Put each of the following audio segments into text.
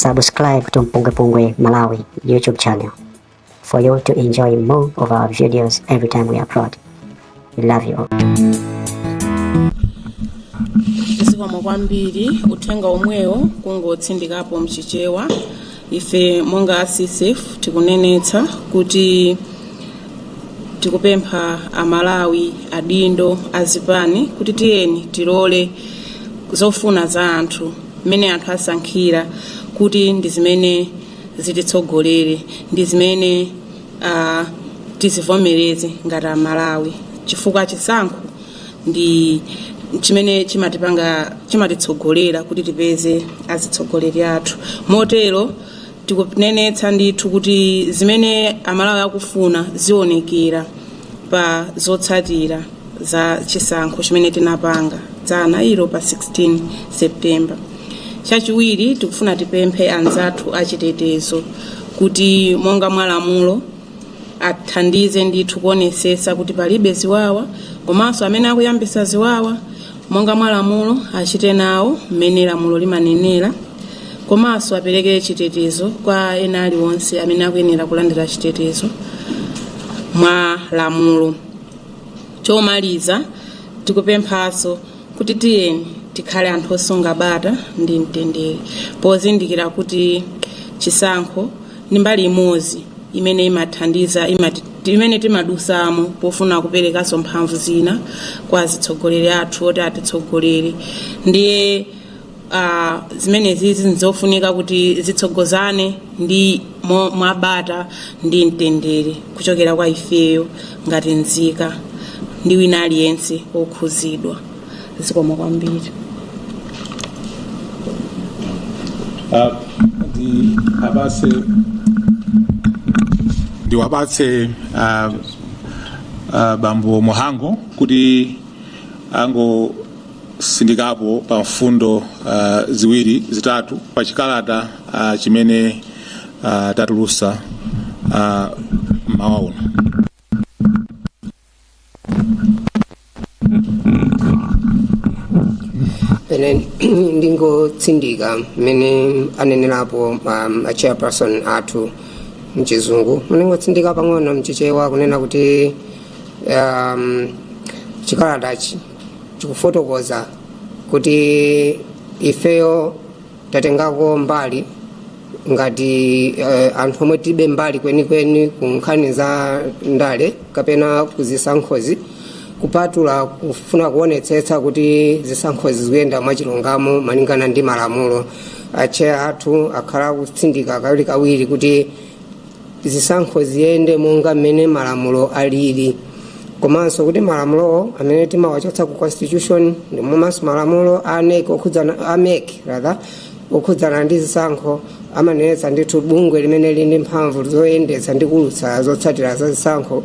Subscribe to Mpungwepungwe Malawi YouTube channel for you to enjoy more of our videos every time we upload. We love you all. zikomo kwambiri uthenga omwewo kungotsindikapo mchichewa ife monga a CCAP tikunenetsa kuti tikupempha amalawi adindo azipani kuti tiyeni tilole zofuna za anthu mmene anthu asankhira kuti ndi zimene zititsogolere ndi zimene uh, tizivomereze ngati amalawi chifukwa chisankho ndi chimene chimatipanga chimatitsogolera kuti tipeze azitsogoleri athu motero tikunenetsa ndithu kuti zimene amalawi akufuna zionekera pa zotsatira za chisankho chimene tinapanga dzana ilo pa 16 september chachiwiri tikufuna tipemphe anzathu achitetezo kuti monga mwa lamulo athandize ndithu kuonesesa kuti palibe ziwawa komanso amene akuyambisa ziwawa monga mwa lamulo, achite nawo mmene lamulo limanenera, komanso apereke chitetezo kwa ena aliwonse amene akuyenera kulandira chitetezo mwa lamulo. Chomaliza, tikupemphanso kuti tiyeni tikhale anthu osunga bata ndi mtendere, pozindikira kuti chisankho ndi mbali imodzi imene imathandiza imati, imene timadusamo pofuna kuperekanso mphamvu zina kwa azitsogoleri athu oti atitsogolere ndiye uh, zimenezizi nzofunika kuti zitsogozane ndi mo- mwabata ndi mtendere kuchokera kwa ifeyo ngati nzika ndi wina aliyense wokhuzidwa zikomo kwambiri Uh, ndiwapatse, ndiwapatse uh, uh, Bambo Mhango kuti angotsindikapo pa mfundo uh, ziwiri zitatu pa chikalata uh, chimene uh, tatulusa uh, mmawa uno ine ndingotsindika mmene anenerapo um, a chairperson athu mchizungu ndingotsindika pang'ono mchichewa kunena kuti um, chikalatachi chikufotokoza kuti ifeyo tatengako mbali ngati uh, anthu omwe tilibe mbali kwenikweni ku nkhani za ndale kapena kuzisankhozi kupatula kufuna kuonetsetsa kuti zisankhozi zikuyenda mwachilungamo malingana ndi malamulo atcheya athu akhala akutsindika kawirikawiri kuti zisankho ziyende monga mmene malamulo alili komanso kuti malamulowo amene timawachotsa ku constitution ndi momwemonso malamulo a NEC okhudzana a MEC rather okhudzana ndi zisankho amanenetsa ndithu bungwe limene lili ndi mphamvu zoyendetsa ndi kuulutsa zotsatira za zisankho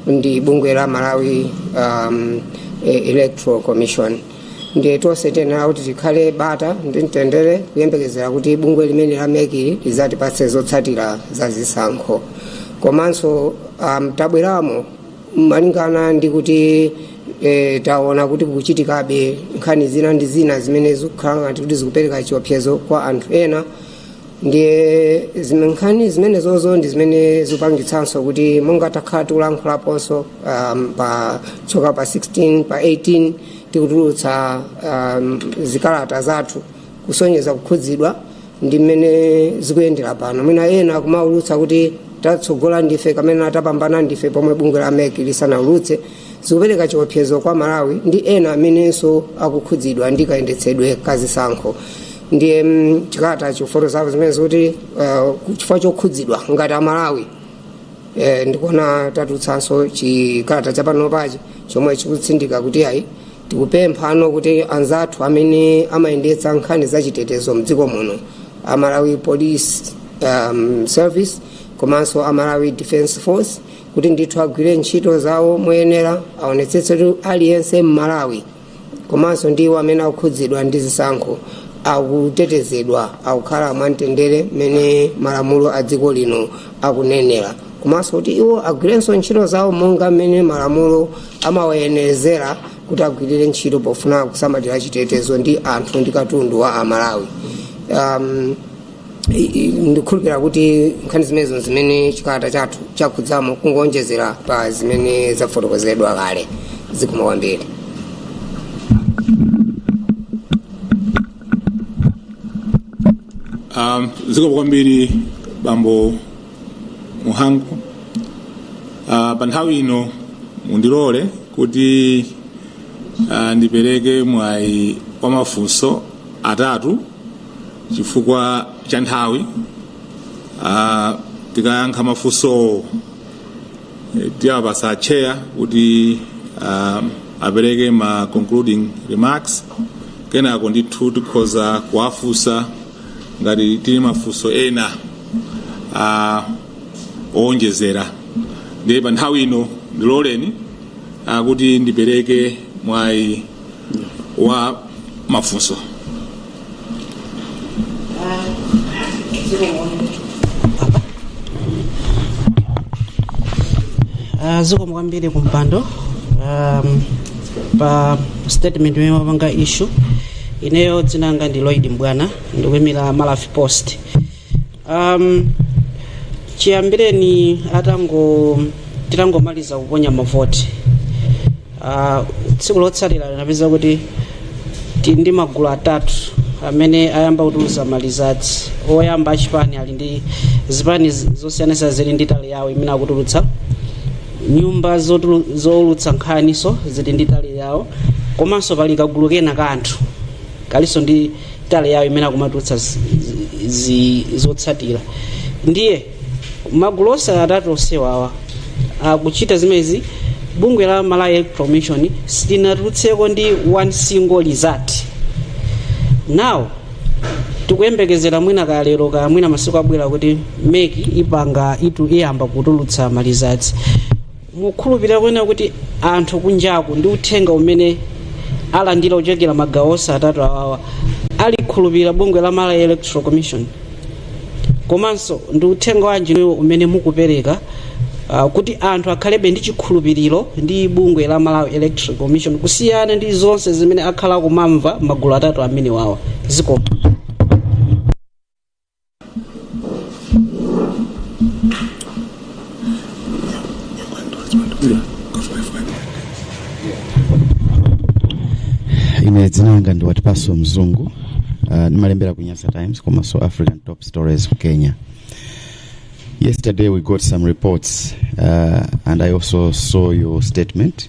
ndi bungwe la Malawi um, eh, Electoral Commission ndiye tonse tiyenera kuti tikhale bata ndi mtendere kuyembekezera kuti bungwe limene la MEC-li lidzatipatse zotsatira za zisankho komanso um, tabweramo malingana ndi kuti e, taona kuti kukuchitikabe nkhani zina ndi zina zimene zikukhala ngati kuti zikupereka chiopsezo kwa anthu ena ndiye zime- nkhani zimenezozo ndi zimene zikupangitsanso kuti monga takhala tikulankhulaponso um, pa tsiku pa 16 pa 18 tikutulutsa um, zikalata zathu kusonyeza kukhudzidwa ndi mmene zikuyendera pano mwina ena akumaulutsa kuti tatsogola ndife kapena tapambana ndife pomwe bungwe la mec lisanaulutse zikupereka chiopsezo kwa amalawi ndi ena amenenso akukhudzidwa ndi kayendetsedwe ka zisankho ndiye mm, chikalata chifoto zawo zimene zikuti uh, chifukwa chokhudzidwa ngati amalawi eh, ndikuona tatulutsanso chikalata chapano pachi chomwe chikutsindika kuti ayi tikupemphano kuti anzathu amene amayendetsa nkhani za chitetezo mdziko muno amalawi police um, service komanso amalawi defense force kuti ndithu agwire ntchito zawo moyenera aonetsetse kuti aliyense mmalawi komanso ndi iwo amene akukhudzidwa ndi zisankho akutetezedwa akukhala mwamtendere mmene malamulo a dziko lino akunenera komanso kuti iwo agwirenso ntchito zawo monga mmene malamulo amawayenerezera kuti agwirire ntchito pofuna kusamalira chitetezo ndi anthu ndi katundu wa amalawi um, ndikukhulupirira kuti nkhani zimenezo ndi zimene chikalata chathu chakhudzamo kungowonjezera pa zimene zafotokozedwa kale zikomo kwambiri um, zikomo kwambiri bambo muhango uh, pa nthawi ino mundilole kuti uh, ndipereke mwayi wa mafunso atatu Chifukwa cha nthawi, ah, tikayankha mafunsowo eh, tiwapasa atcheya kuti ah, apereke ma concluding remarks kenako ndithu tikhoza kuwafunsa ngati tili ndi mafunso ena ah, owonjezera ndiye pa nthawi ino ndiloleni ah, kuti ndipereke mwayi wa mafunso Ah, zikomo kwambiri kumpando um, pa statement imene mwapanga issue ineyo dzina langa ndi Lloyd M'bwana ndikuimira Maravi Post um, chiyambireni atango titangomaliza kuponya mavoti uh, tsiku lotsatira zinapezeka kuti tili ndi magulu atatu amene ayamba kutulutsa malizatsi oyamba achipani ali ndi zipani z- zosiyanasiyana zili ndi tally yawo imene akutulutsa nyumba zotulu- zoulutsa nkhanizo zili ndi tally yawo komanso pali kagulu kena ka anthu kalinso ndi tally yawo imene akumatulutsa zi- zi- zi- zotsatira ndiye magulu onse atatu amenewawa akuchita zimenezi bungwe la malawi electoral commission silinatulutseko ndi one single result now tikuyembekezera mwina kalero kaya mwina masiku akubwera kuti mec ipanga itu iyamba kutulutsa malizatsi mukhulupirira kunena kuti anthu kunjaku ndi uthenga umene alandira kuchokera magawo onse atatu awawa alikhulupirire bungwe la malawi electoral commission komanso ndi uthenga wanji inuyo umene mukupereka uh, kuti anthu akhalebe ndi chikhulupiriro ndi bungwe la malawi electoral commission kusiyana ndi zonse zimene akhala kumamva magulu atatu amenewawa zikomo ine dzina langa ndi watipaso mzungu uh, ndimalembera ku nyasa times komanso african top stories ku kenya yesterday we got some reports uh, and i also saw your statement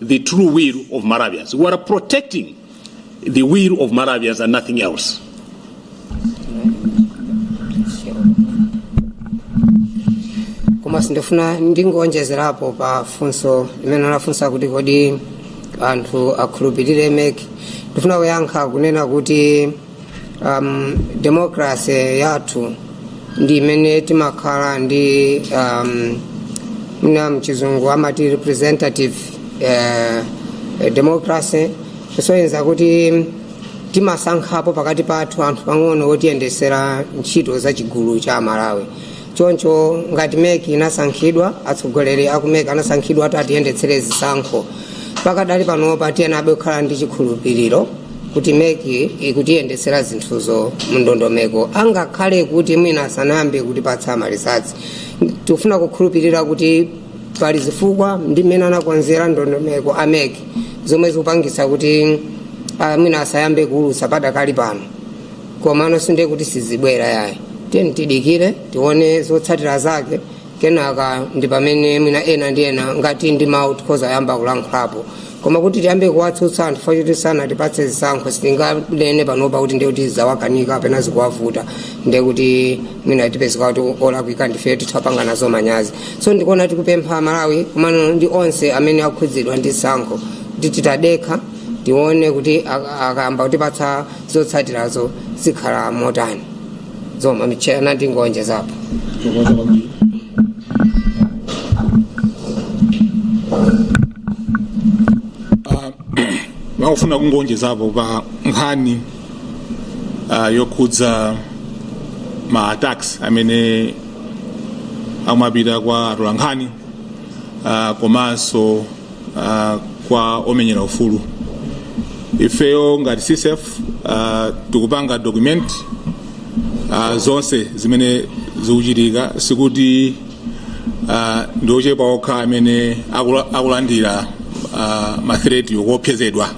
the true will of Malawians. We are protecting the will of Malawians and nothing else. komanso ndifuna ndingoonjezerapo pa funso limene anafunsa kuti kodi anthu akhulupirire mec ndifuna kuyankha kunena kuti um, demokrase yathu ndi imene timakhala ndi um, mwina mchizungu amati representative uh, democracy kusonyeza kuti timasankhapo pakati pathu anthu pang'ono otiyendetsera ntchito za chigulu cha amalawi choncho ngati mec inasankhidwa atsogoleri aku mec anasankhidwa kuti atiyendetsere zisankho pakadali panopa tiyenabe kukhala ndi chikhulupiriro kuti mec ikutiyendetsera zinthuzo mundondomeko angakhale kuti mwina asanayambe kutipatsa malisatsi tikufuna kukhulupirira kuti pali zifukwa ndi mmene anakonzera ndondomeko a mec zomwe zikupangitsa kuti ah, mwina asayambe kuulutsa padakali pano komano sindiye kuti sizibwera yayi tiyeni tidikire tione zotsatira zake kenaka ndi pamene mwina ena ndi ena ngati ndi mawu tikhoza yamba kulankhulapo koma kuti tiyambe kuwatsutsa anthu chifukwa kuti sanatipatse zisankho sitinganene panopa kuti ndiye kuti zawakanika kapena zikuwavuta ndiye kuti mwina tipezeka kuti olakwika ndife titha kupanga nazo manyazi so ndikuona tikupempha amalawi komano ndi onse amene akhudzidwa ndi chisankho kuti tidekhe tione kuti akayamba kutipatsa zotsatirazo zikhala motani zomwe mwatchula ndingowonjezapo Tokoza kwambiri. ndikufuna kungowonjezapo pa nkhani ah, yokhudza ma attacks amene akumapita kwa atolankhani ah, komanso uh, kwa omenyera ufulu ifeyo ngati ccf uh, tikupanga document uh, zonse zimene zikuchitika sikuti uh, ndi ochepa okha amene akula- akulandira uh, mathireti okuopsezedwa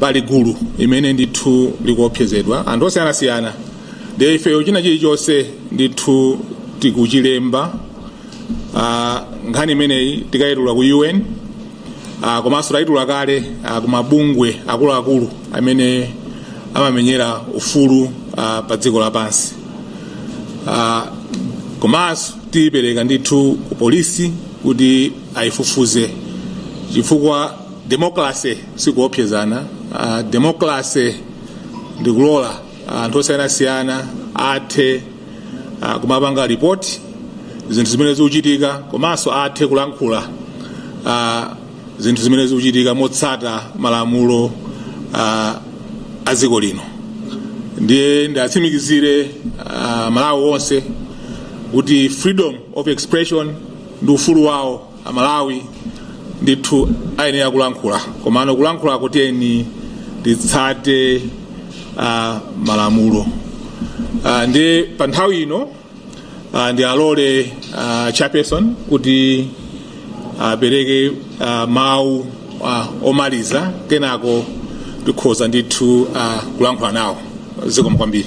pali gulu limene ndithu likuopsezedwa anthu osiyanasiyana ndiye ifeyo china chilichonse ndithu tikuchilemba uh, nkhani imeneyi tikayitula ku un uh, komanso tayitula kale uh, ku mabungwe akuluakulu amene amamenyera ufulu uh, pa dziko lapansi uh, komanso tiyipereka ndithu ku polisi kuti ayifufuze chifukwa demokrase sikuopsezana uh, demokrase ndikulola anthu osiyanasiyana athe ah, kumapanga ripoti zinthu zimene zikuchitika komanso athe kulankhula ah, zinthu zimene zikuchitika motsata malamulo ah, a dziko lino ndiye ndiwatsimikizire ah, amalawi onse kuti freedom of expression ndi ufulu wawo Amalawi ndithu ayenera kulankhula komano kulankhulako tiyeni titsate uh, malamulo uh, ndiye pa nthawi ino uh, ndiwalole uh, chairperson kuti apereke uh, mawu uh, omaliza kenako tikhoza ndithu uh, kulankhula nawo zikomo kwambiri